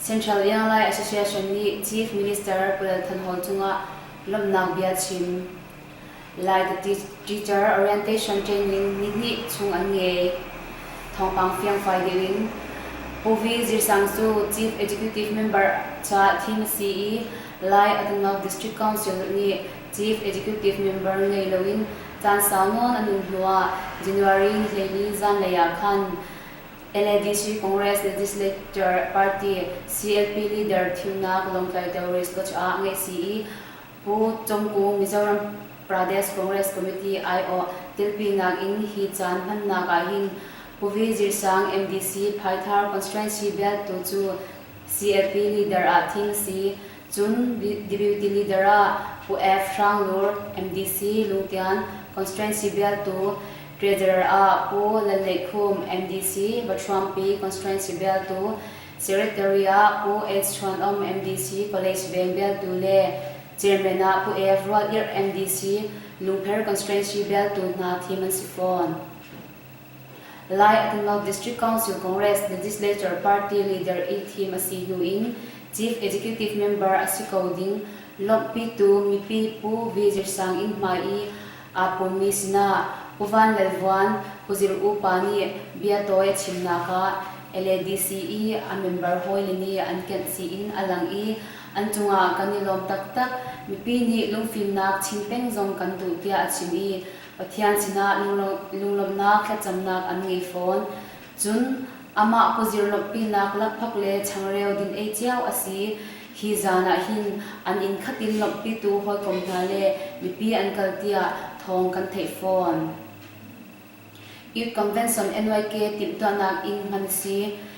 Central Airline Association nih Chief Minister Pu Lal Than Hol cungah lawmhnak bia chim. Lai The Teacher Orientation Training nihnih chung an ngei. Thawngpang fiangfai deuh in Pu Vi Zir Sang cu Chief Executive Member caah thim a si i Lai Atunnok District Council nih Chief Executive Member ngei loin caan sau nawn an um hnuah January ni hleili zanlei ah khan LADC Congress le Legislature Party CLP leader thimnak Lawngtlai Terrorist Watch ah ngeih si i Pu Congku Mizoram Pradesh Congress Committee aiawh tilpinak in hi caan hmannak ah hin Puvi Zirsang MDC Phaithar constituency beltu cu CLP leader ah thing si Cun Deputy Leader ah Pu F. Hrang Lur, MDC, Lungtian Constituency bialtu, Treasurer ah Pu Lalneih Khum, MDC, Batruangpi Constituency bialtu, Secretary ah Pu Eds Chuan Om, MDC, College Veng bialtu le Chairman ah Pu F. Rual Irh, MDC, Lungpher Constituency bialtu hna thim an si fawn. Lai a Pumpak District Council Congress Legislature Party Leader i thim a si hnu in Chief Executive Member a si ko ding lawmhpitu mipi Pu Vizir Sang Inn hmai i aa pummi sinah Pu Van Lal Vuan, Pu Zir U pa nih biatawi a chimnak ah LADC i a member hawile nih an kenh si in a lang i an cungah kan i lawm taktak. Mipi nih lungfimnak chim peng zong kan duh tiah a chim i Pathian sinah lunglawmhnak thlacamnak an ngei fawn. Cun amah kuzir lawmhpinak lakphak le changreu din ei cio a si. Hi zan ah hin an inn khat in lawmhpitu hawikom hna le mipi an kal tiah thawng kan theih fawn. Youth Convention, NYK, timhtuahnak inn hman si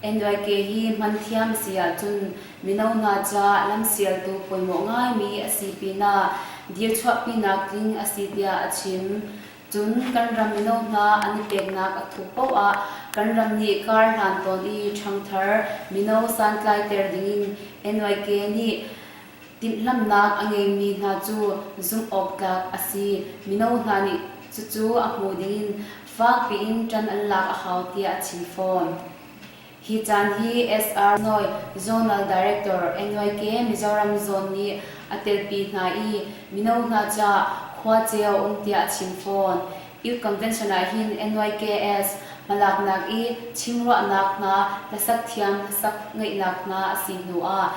NYK hi hman thiam a si ahcun mino hna ca lamsialtu pawimawh ngaimi a si pinah dir chuahpinak tling a si tiah a chim. Cun kan ram mino hna an i peknak a thup paoh ah kan ram nih kar hlan tawn i ṭhangthar mino santlaiter dingin NYK nih Timhlamhnak a ngeimi hna cu zumhawktlak a si, mino hna nih cucu a hmu dingin fak piin ṭan an lak a hau tiah a chim fawn. Hi caan hi SR Nawi Zonal Director NYK Mizoram Zone nih a telpi hna i mino hna caah khuace a um tiah a chim fawn. Youth Convention ah hin NYKS hmalaknak i chim ruahnak hna hlasak thiam hlasak ngeihnak hna a si hnu ah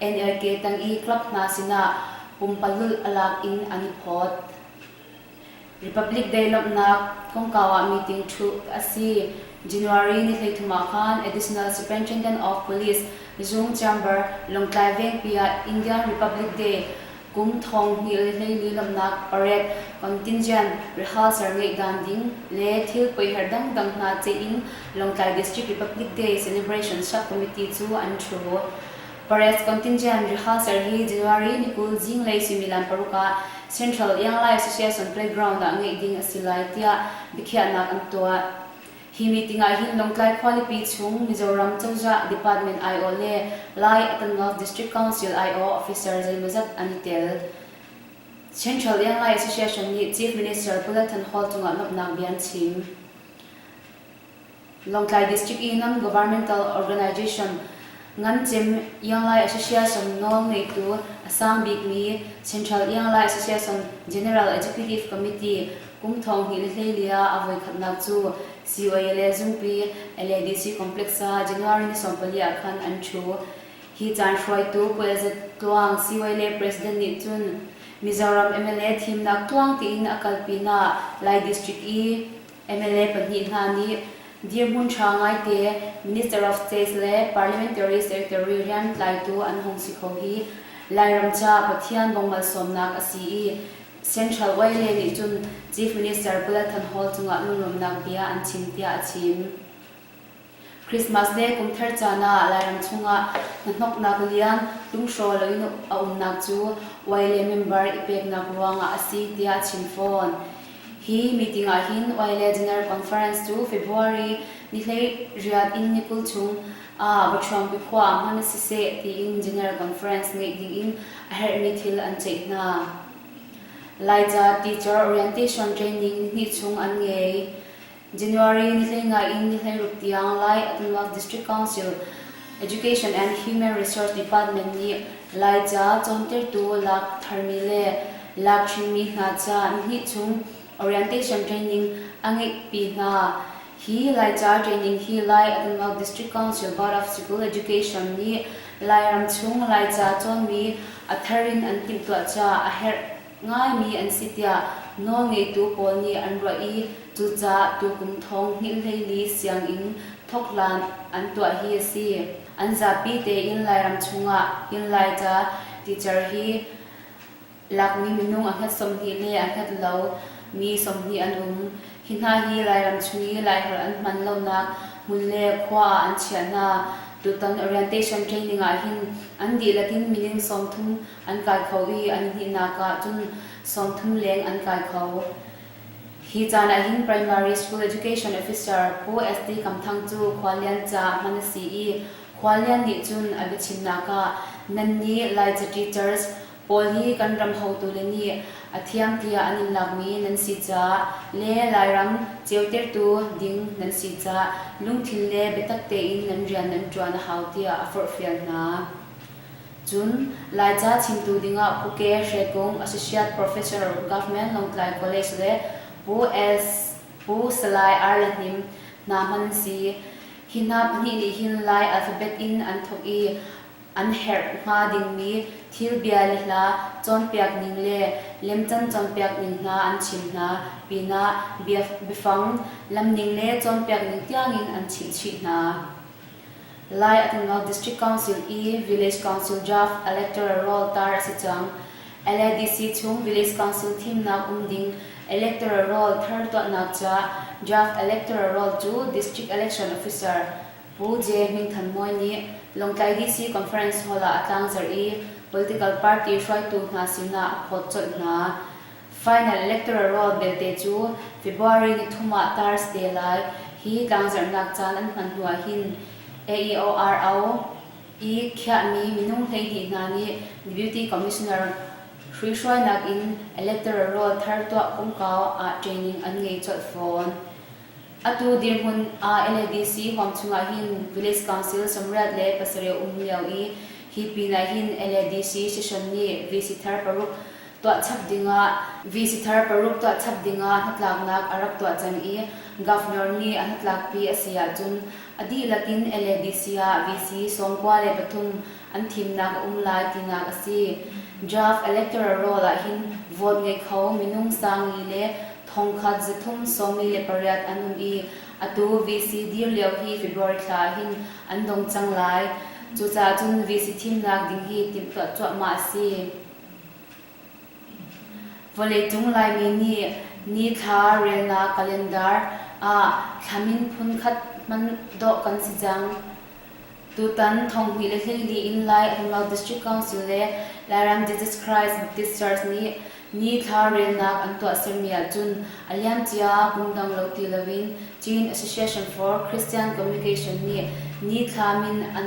NRK tang i club hna sinah pumpalulh a lak in an i phawt. Republic Day lawmhnak kongkau ah meeting ṭhu a si. January ni hleithum ah khan Additional Superintendent of Police Zung Chamber Lawngtlai Vengpi ah Indian Republic Day kum thong hngil hleili lamnak parep, contingent, rehearsal ngeih dan ding le thil paiher dangdang hna ceih in Lawngtlai District Republic Day Celebration Sub-Committee cu an ṭhu. Parets contingent rehearsal hi January ni kul zinglei suimilan paruk ah Central Young Life Association Playground ah ngeih ding a si lai tiah biakhiahnak an tuah. Hi meeting ah hin Lawngtlai khualipi chung Mizoram cozah department aiawh le Lai Attanoth District Council aiawh officer zeimawzat an i tel. Central Lianglai Association nih Chief Minister Bulletin Hall cungah lawmhnak bia an chim. Lawngtlai District i non-governmental organization Ngamcem Ianglai Association nawl ngeitu a sang bikmi Central Ianglai Association General Executive Committee kum thong hnih le hleili ah a voikhatnak cu COALA Zungpi LADC Complex ah January ni sawmpali ah khan an ṭhu. Hi caan hruaitu Puai Za Tluang COALA President nih cun Mizoram mla thimnak tluang tiin a kal pinah Lai District i mla pahnih hna nih dirhmun ṭha ngaite Minister of State le Parliamentary Secretary rian tlaitu an hung si kho hi Lairam ca Pathian bawmh malsawmnak a si i Central yla nih cun Chief Minister Paul Than Hall cungah lunglawmhnak bia an chim tiah a chim. Christmas le kumthar caan ah Lairam chungah hnahnoknak lian lunghrawl loin a umnak cu Wai le member i peknak ruangah a si tiah a chim fawn. Hi meeting ah hin Wai le General Conference cu February ni hlei riat in ni kul chung ah Bathuam Pikhua hman siseh tiin General Conference ngeih dingin a herhmi thil an ceih hna. Laica Teacher Orientation Training ni chung an ngei. January nihhlei ngai in nihhlei ruk tiang Lai a tonnak District Council Education and Human Resource Department nih Laica cawntertu lak tharmi le lak chinmi hna ca hnih chung orientation training a ngeihpi hna. Hi Laica training hi Lai a tonnak District Council Board of School Education nih Lairam chung Laica cawnmi a thar in an timhtuah caah a herh ngaimi an si tiah nawlngeitu pawl nih an ruah i cucaah tukum thawng hnilhleili sianginn thawkhlan an tuah hi a si. An zapi tein Lairam chungah inn Laica teacher hi lakmi minung a hlat sawmhnih le a hlat lo mi sawmhnih an um. Hi hna hi Lairam chung i Laiholh an hman lonak hmun le khua ah an chiah hna. Tutan orientation training ah hin an dihlak in minung sawmthum an kai kho i an hnihnak ah cun sawmthum leng an kai kho. Hi caan ah hin Primary School Education Officer Pu SD Kam Thang cu Khuallian caah hman a si i Khuallian nih cun a biachimnak ah Nannih Laica Teachers pawl hi kan ram hotu le nih a thiam tiah an in lakmi nan si caah le Lairam ceutertu ding nan si caah lungthin le biatak tein nan rian nan ṭuan a hau tiah a forhfial hna. Cun, Laica chimtu dingah Phuke, Hrekung, Associate Professor, Government, Lawngtlai College le Pu Els, Pu Salai Arla Hnim, hna hman an si. Hi hna pahnih nih hin Lai alphabet in an thawk i an herh hnga dingmi thil bia le hla cawnpiakning le lemcan cawnpiakning hna an chim hna pinah biafang lamning le cawnpiakning tiangin an chimhchih hna. Lai a tlung lo District Council i Village Council draft electoral roll tar a si cang. LADC chung Village Council thimnak um ding electoral roll thar tuahnak ca draft electoral roll cu District Election Officer Pu J. Hming Than Mawi nih Lawngtlai DC Conference Hall ah a tlangzarh i political party hruaitu hna sinah a phawt colh hna. Final electoral roll belte cu February ni thum ah Thursday lai hi tlangzarhnak caan an hman hnu ah hin AEORO i khiahmi minung hleihnih hna nih Deputy Commissioner hruihruainak in electoral roll thar tuah kongkau ah training an ngei colh fawn. Atu dirhmun ah LADC huam chungah hin Village Council sawmriat le pasarih um lio i hi pin ah hin LADC session nih VC thar paruk tuahchap dingah visitor paruk tuahchap dingah hnatlaknak a rak tuah cang i Governor nih a hnatlakpi a si ahcun a dihlak in LADC ah VC sawmkua le pathum an thimnak a um lai tinak a si. Draft electoral roll ahhin vote ngei kho minung sangli le thongkhat zathum sawmli le pariat an um i atu VC dir lio hi February thla ahhin an dong cang lai. Cucaah cun VC thimnak ding hi timhtuah cuahmah a si. Vawleicung Laimi nih ni thla relnak calendar ah thlam in phunkhat hman dawh kan si cang. Tutan thonghnih le hleihnih in Lai a tlung lo District Council le Lairam Jesus Christ Baptist Church nih ni thla relnak an tuahsermi ahcun a liamcia ah kum dang lo ti loin Chin Association for Christian Communication nih ni thla min an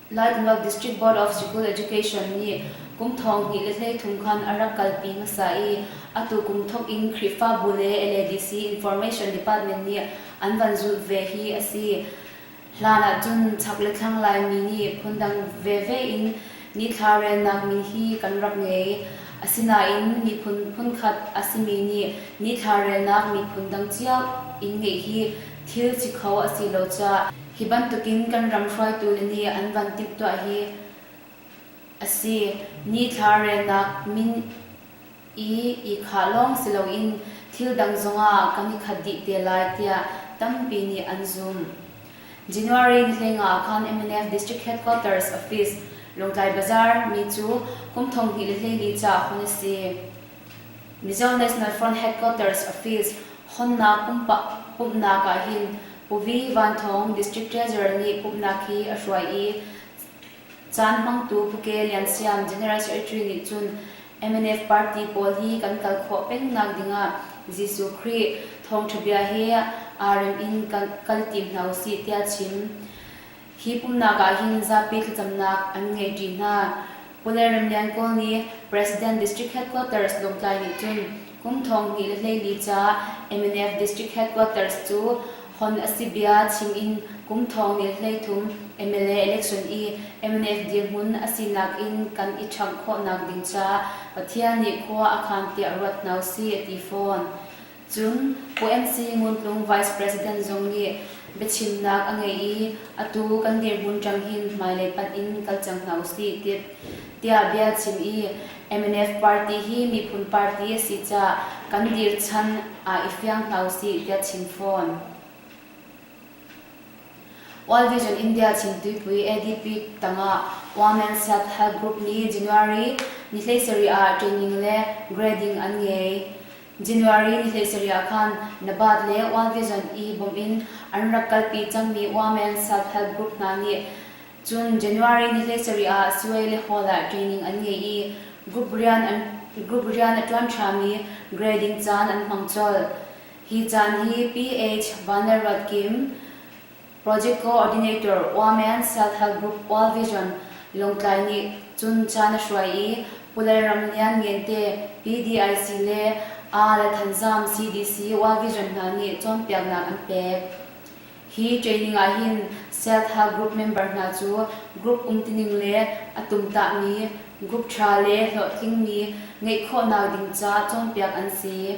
Laitluak District Board of School Education nih kum thong hnih le hlei thum khan a rak kalpi hmasa i atu kum thawk in Khrihfabu le LADC Information Department nih an van zulh ve hi a si. Hlan ahcun chak le thlang Laimi nih phundang veve in nithla relnak mi hi kan rak ngei. Asinain miphun phunkhat a simi nih nithla relnak miphun dang cio in ngeih hi thil si kho a si lo caah hi bantukin kan ram hruaitu le nih an van timhtuah hi a si. Nithla relnak min i ihkhah lawng si loin thil dang zongah kan i khat dih te lai tiah tampi nih an zum. January nihleng ah khan mnf District Headquarters Office, Lawngtlai Bazaar, mi cu kum thonghnih le hleili ca hun a si. Mizo National Front Headquarters Office hawnnak pumhnak ah hin Pu Vi Van Thawng District Treasurer nih pumhnak hi a hruai i caan hmangtu Pu Ke Lian Siam General Secretary nih cun MNF party pawl hi kan kal khawh pengnak dingah Jesuh Khrih thawngṭha bia he aa rem in kan kal tim hna usih tiah a chim. Hi pumhnak ah hin zapi thlacamnak an ngeihṭi hna. Pu le Remlian Kawl nih President District Headquarters Lawngtlai nih cun kum thong hnih le hleili ca mnf District Headquarters cu hon a si bia chim in kum thong hnih le hleithum mla election i mnf dirhmun a sinak in kan i ṭhamh khawhnak ding caah Pathian nih khua a khan tiah ruat hna usih a ti fawn. Cun UMC Nguntlung Vice President zong nih biachimnak a ngei i atu kan dirhmun ṭang hin hmailei panh in kal cang hna usih tit tiah bia chim i mnf party hi miphun party a si caah kan dir chan ah i fiang hna usih tiah chim fawn. World Vision India chimtuipui ADP tangah Wamen Siak Health Group nih January ni hleisarih ah training le grading an ngei. January ni hlei-sarih ah khan Nabath le Wal Vision i bawmh in an rak kalpi cangmi Women Self-Help Group hna nih cun January ni hlei-sarih ah Sue le Hall ah training an ngei i group rian an group rian a ṭuan ṭhami grading caan an hmang colh. Hi caan hi PH Van Lal Ruat Kim, Project Coordinator Waman Self-Help Group World Vision Lawngtlai nih cun ca na hruai i Pu Lalram Lian Ngente, PDIC le aa le Thanzam CDC World Vision hna nih cawnpiaknak an pek. Hi training ah hin self-help group member hna cu group umtining le a tumtahmi, group ṭha le hlawhtlingmi ngeih khawhnak ding ca cawnpiak an si.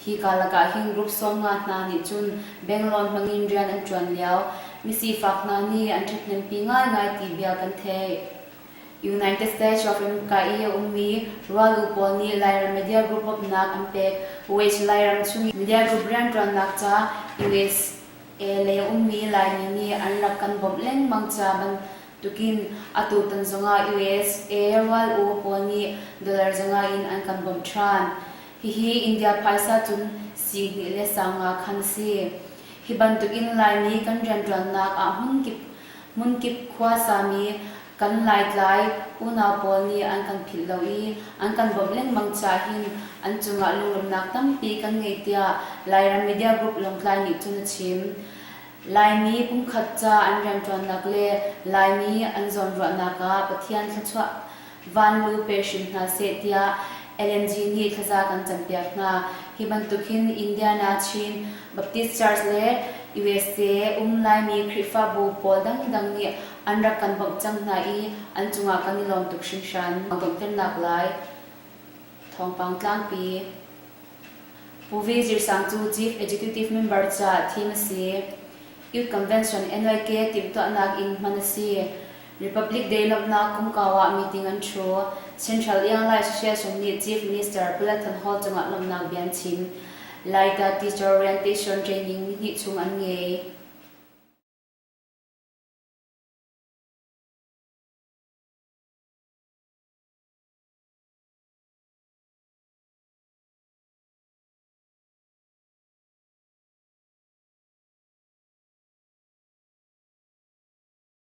Hi karlak ah hin group sawm nga hna nih cun Bangalore hmang in rian an ṭuan lio misifak hna nih an ṭhathnempi ngaingai ti bia kan theih. United States ramka i a ummi rualuu pawl nih Lairam media group upnak an pek. West Lairam chung i media group rianṭuannak ca USA lei a ummi Laimi nih an rak kan bawmh lengmang ca bantukin atutan zongah USA rualuu pawl nih dollar zongah in an kan bawmh ṭhan. Hihi India phaisa cun sihni le sangaa khan a si. Hi bantukin Laimi kan rianṭuannak ah hmunkip hmunkip khua sami kan Laitlai unau pawl nih an kan philh lo i an kan bawmh lengmang cahin an cungah lungremnak tampi kan ngei tiah Lairam Media Group Lawngtlai nih cun a chim. Laimi pumkhat ca an rianṭuannak le Laimi an zawnruahnak ah Pathian thluachuah Van lu pe hrim hna seh tiah LNG nih thlaza kan campiak hna. Hi bantuk hin Indiana, Chin, Baptist Church le usa um Laimi Khrihfabu pawl dangdang nih an rak kan bawmh cang hna i an cungah kan i lawm tuk hringhran. Donghternak lai thawngpang tlangpi. Pu Vi Zir Sang cu Chief Executive Member caah thim a si i Youth Convention, NYK, timhtuahnak in hman a si. Republic Day lawmhnak kumkau ah meeting an ṭhu. Central Airlines hrialsung nih Chief Minister Paula Thunhall cungah lawmhnak bia an chim. Laita Teacher Orientation Training nihnih chung an ngei.